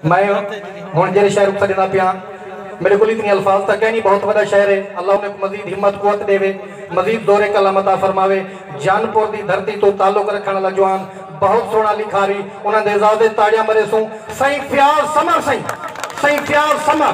میں ہن جیرھے شعر اتھاں ڈیندا پیاں میڈے کول اتنی الفاظ تاں کینی بہت وڈا شعر ہے اللہ انہیں کوں مزید ہمت قوت ڈیوے مزید زور قلم عطا فرماوے جان پور دی دھرتی توں تعلق رکھن والا جوان بہت سوہنا لکھاری انہاں دے اعزاز اچ تاڑیاں مریسوں سئیں فیاض سمر سئیں سئیں فیاض سمر۔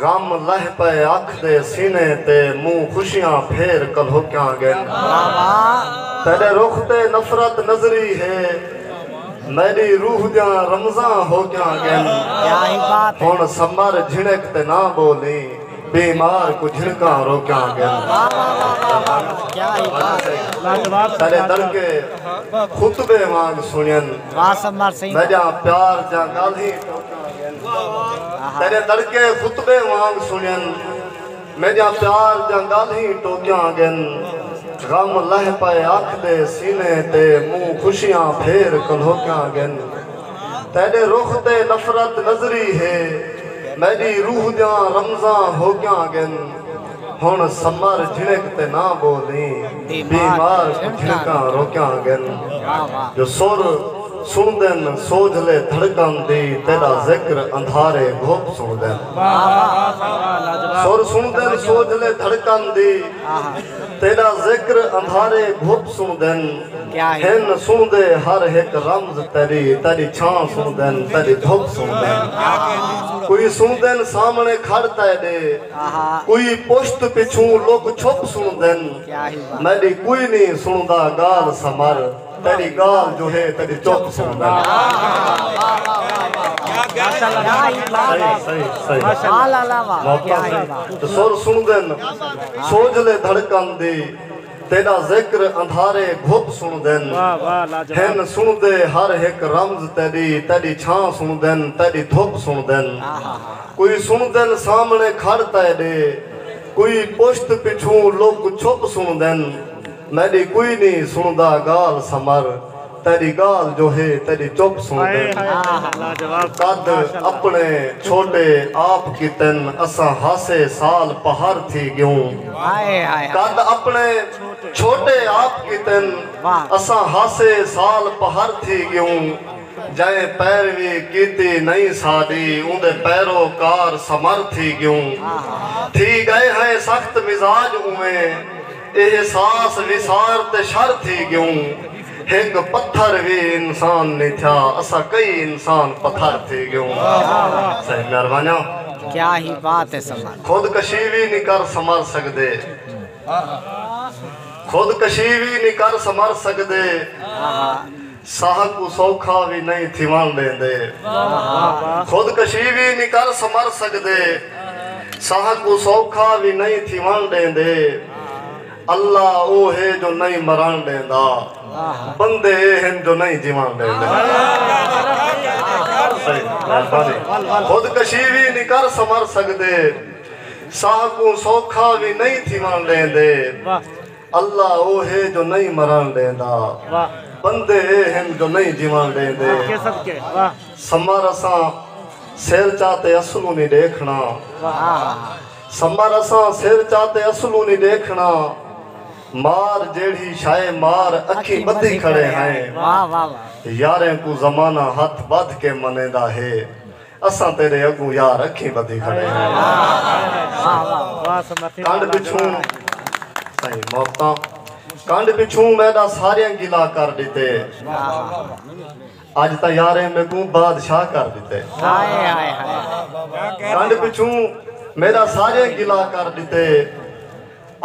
غم لہہ پئے اکھ دے سینے تے منہ خوشیاں پھیر کلہوکیاں گن تیڈے رخ تے نفرت نظری ہے میڈی روح دیاں رمزاں ہوکیاں گن ہن سمر جھنک تے نہ بولی بیمار کوں جھنکاں روکیاں گن تیڈے دڑکے خطبے وانگ سنین۔ قاسم مر سین دا جا پیار جا گالھی تیرے دڑکے خطبے وانگ سنین میں جا پیار جا گالھی ٹوکیاں گن غم لہ پائے اکھ دے سینے تے مو خوشیاں پھیر کلھوکیاں گن تیرے رخ تے نفرت نظری ہے میری روح دیاں رمزاں ہوکیاں گن ہݨ سمر جھݨک تے نہ ٻولیں بیمار کوں جھݨکاں روکیاں ڳن جو سر سݨدن سوجھلے دھڑکن دی تیݙا ذکر اندھارے گھپ سݨدن سر سݨدن سوجھلے دھڑکن دی تیݙا ذکر اندھارے گھپ سݨدن ہن سݨدے ہر ہک رمز تیݙی تیݙی چھاں سݨدن تیݙی دھپ سݨدن کوئی سݨدن سامݨے کھڑ تیݙے کوئی پشت پچھوں لک چھپ سݨدن میݙی کوئی نی سݨدا ڳالھ سمر تیݙی ڳالھ جو ہے تیݙی چپ سݨدن سر سݨدن سوجھلے دھڑکن دی تیݙا ذکر اندھارے گھپ سݨدن ہن سݨدے ہر ہک رمز تیݙی تیݙی چھاں سݨدن تیݙی دھپ سݨدن کوئی سݨدن سامݨے کھڑ تیݙے کوئی پشت پچھوں لک چھپ سݨدن میݙی کوئی نی سݨدا ڳالھ سمر تیݙی ڳالھ جو ہے تیݙی چپ سݨدن قد اپݨے چھوٹے آپ کیتن اساں ہاسے سال پہر تھی ڳیوں قد اپݨے چھوٹے آپ کیتن اساں ہاسے سال پہر تھی ڳیوں جئیں پیروی کیتی نئیں ساݙی اوندے پیرو کار سمر تھی ڳیوں تھی ڳئے ہیں سخت مزاج اوویں احساس وسار تے شر تھی گیوں ہک پتھر وی انسان نی تھیا اساں کئی انسان پتھر تھی گیوں صحیح میار وانیاں کیا ہی بات ہے سمر خود کشی وی نی کر سمر سکدے خود کشی وی نی کر سمر سکدے۔ ساہ کوں سوکھا وی نئیں تھیوݨ ݙیندے۔ خود کشی وی نی کر سمر سڳدے۔ ساہ کوں سوکھا وی نئیں تھیوݨ ݙیندے۔ اللہ او ہے جو نئیں مرݨ ݙیندا۔ بندے اے ہن جو نئیں جیوݨ ݙیندے۔ خود کشی وی نی کر سمر سڳدے۔ ساہ کوں سوکھا وی نئیں تھیوݨ ݙیندے۔ اللہ او ہے جو نئیں مرݨ ݙیندا بندے اے ہن جو نئیں جیوݨ ݙیندے سمر اساں سر چا تے اصلوں نی ݙیکھݨا سمر اساں سر چا تے اصلوں نی ݙیکھݨا مار جیڑھی شئے مار اکھیں ٻدھی کھڑے ہیں یاریں کوں زمانہ ہتھ ٻدھ کے منیندا ہے اساں تیڈے اگوں یار اکھیں بدھی کھڑے ہاںکنڈ پچھوں سائیں محبتاں کنڈ پچھوں میڈا ساریاں گلا کر ڈتے اج تاں یاریں میکوں بادشاہ کر ڈتے کنڈ پچھوں میڈا ساریاں گلا کر ڈتے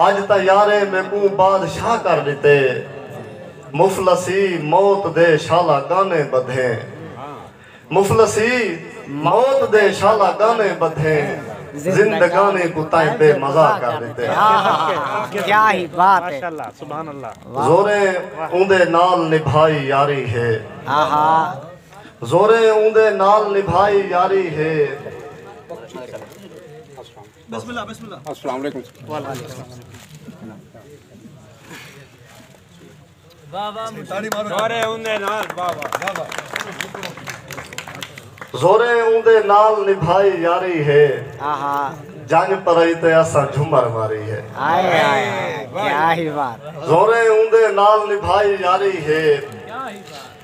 اج تاں یاریں میکوں بادشاہ کر ڈتے مفلسی موت دے شالا گانے بدھیں مفلسی موت دے شالا گانے بدھے زندگانی کوں تائیں بے مزہ کر ڈتے زوریں اوندے نال نبھائی یاری ہے زوریں اوندے نال نبھائی یاری ہے السلام علیکم زوریں اوندے نال نبھائی یاری ہے جنگ پرائی تے اساں جھمر ماری ہے زوریں اوندے نال نبھائی یاری ہے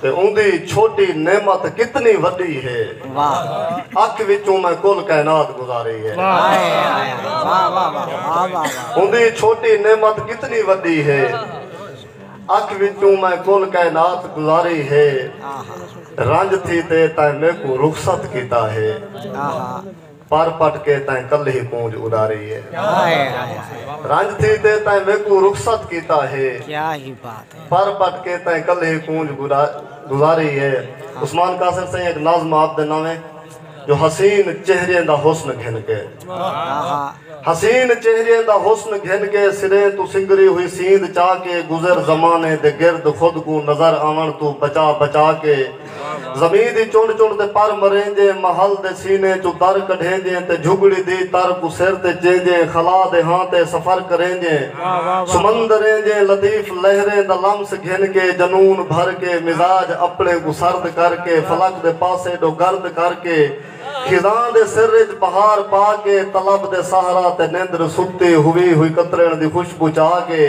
تے اوندی چھوٹی نعمت کتنی وڈی ہے۔ اکھ وچوں میں کل کائنات گزاری ہے۔ اوندی چھوٹی نعمت کتنی وڈی ہے۔ اکھ وچوں میں کل کائنات گزاری ہے۔ رنج تھی تے تیں میکوں رخصت کیتا ہے۔ پر پٹ کے تیں کل ہی کونج اڈاری ہے۔ رنج تھی تے تیں میکوں رخصت کیتا ہے۔ پر پٹ کے تیں کل ہی کونج گزاری ہے۔ عثمان قاصر سئیں ہک ناظم آپ دے ناوے جو حسین چہریے دا حسن گھن کے۔ حسین چہریے دا حسن گھن کے سریں توں سنگری ہوئی سیند چا کے گزر زمانے دے گرد خود کوں نظر آون توں بچا بچا کے۔ زمین دی چنڈ چنڈ تے پر مریندیں محل دے سینے چوں در کڈھیندیں تے جھگڑی دی تر کوں سر تے چیندیں خلا دے ہاں تے سفر کریندیں سمندریں جیں لطیف لہریں دا لمس گھن کے جنون بھر کے مزاج اپنے کوں سرد کر کے فلک دے پاسے ڈو گرد کر کے خزاں دے سر اچ بہار پا کے طلب دے سہراں تے نیندر ستی ہوی ہوئی کترین دی خوشبو چا کے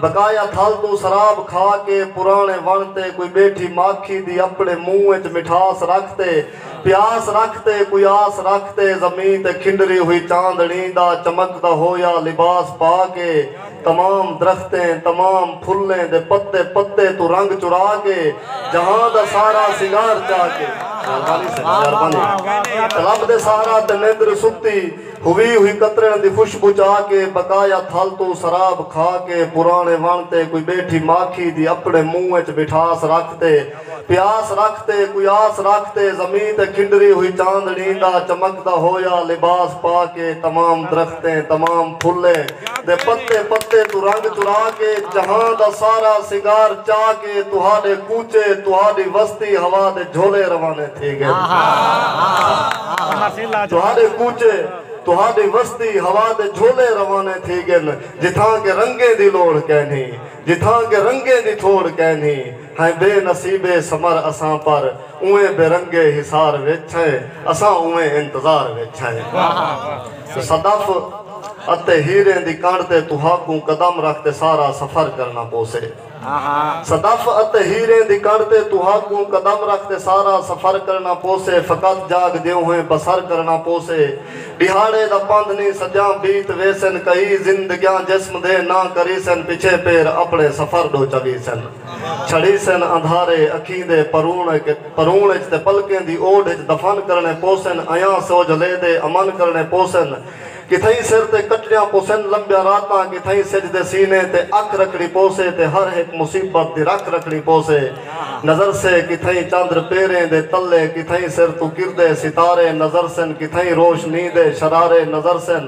بقایا تھل توں سراب کھا کے پرانے وݨ تے کوئی بیٹھی ماکھی دی اپنے منہ اچ مٹھاس رکھ تے پیاس رکھ تے کوئی آس رکھ تے زمیں تے کھنڈری ہوئی چاندنی دا چمکدا ہویا لباس پا کے تمام درختیں، تمام پھلیں دے پتے پتے توں رنگ چرا کے جہاں دا سارا سنگار چا کے۔ مہربانی سئیں مہربانی۔ رب دے سہارا تے نیندر ستی ہوی ہوی کترن دی خوشبو چا کے بقایا تھل توں سراب کھا کے پرانے وݨ تے کوئی بیٹھی ماکھی دی اپنے منہ اچ مٹھاس رکھ تے پیاس رکھ تے کوئی آس رکھ تے زمیں تے کھنڈری ہوئی چاندنی دا چمکدا ہویا لباس پا کے تمام درختیں تمام پھلیں دے پتے پتے توں رنگ چرا کے جہاں دا سارا سنگار چا کے تہاڈے کوچے تہاڈی وستی ہوا دے جھولے روانے تھی گن تہاڈے کوچے تہاڈی وستی ہوا دے جھولے روانے تھی گن جتھاں کہ رنگیں دی لوڑھ کینھی جتھاں کہ رنگیں دی تھوڑھ کینھی ہیں بے نصیبے سمر اساں پر اوئیں بے رنگے حصار وچ ہیں اساں اوئیں انتظار وچ ہیں صدف اتے ہیریں دی کنڑ تے تہاکوں قدم رکھ تے سارا سفر کرنا پوسے صدف اتے ہیریں دی کنڑ تے تہاکوں قدم رکھ تے سارا سفر کرنا پوسے فقط جاگ دیوہیں بسر کرنا پوسے ڈیہاڑے دا پندھ نی سجاں بیت ویسن کئی زندگیاں جسم دے نہ کریسن پچھے پیر اپنے سفر ڈو چویسن۔ چھڑیسن اندھارے اکھیں دے پروݨ اچ تے پلکیں دی اوڈھ اچ دفن کرݨے پوسن ایاں سو جو لے دے امن کرݨے پوسن کتھئیں سر تے کٹݨیاں پوسن لمبیاں راتاں کتھئیں سجھ دے سینے تے اکھ رکھݨی پوسے تے ہر ہک مصیبت دی رکھ رکھݨی پوسے نظرسے کتھئیں چندر پیریں دے تلے کتھئیں سر توں کردے ستارے نظرسن کتھئیں روشنی دے شرارے نظرسن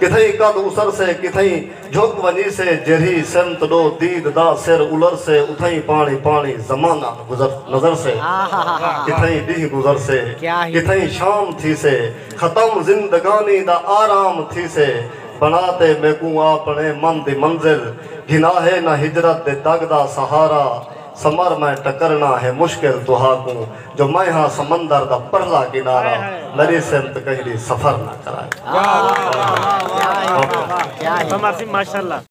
کتھئیں قد اسرسے کتھئیں جھک ونجیسے جیرھی سمت ݙو دید دا سر الرسے اتھئیں پاݨی پاݨی زمانہ نظرسے کتھئیں ݙینہہ گزرسے کتھئیں شام تھیسے ختم زندگانی دا آرام تھیسے بݨا تے میکوں آپݨے من دی منزل گھناہے نہ ہجرت دے دڳ دا سہارا سمر میں ٹکرنا ہے مشکل تہا کوں جو میں ہاں سمندر دا پرلا کنارہ میڈی سمت کہیں دی سفر نہ کرائے۔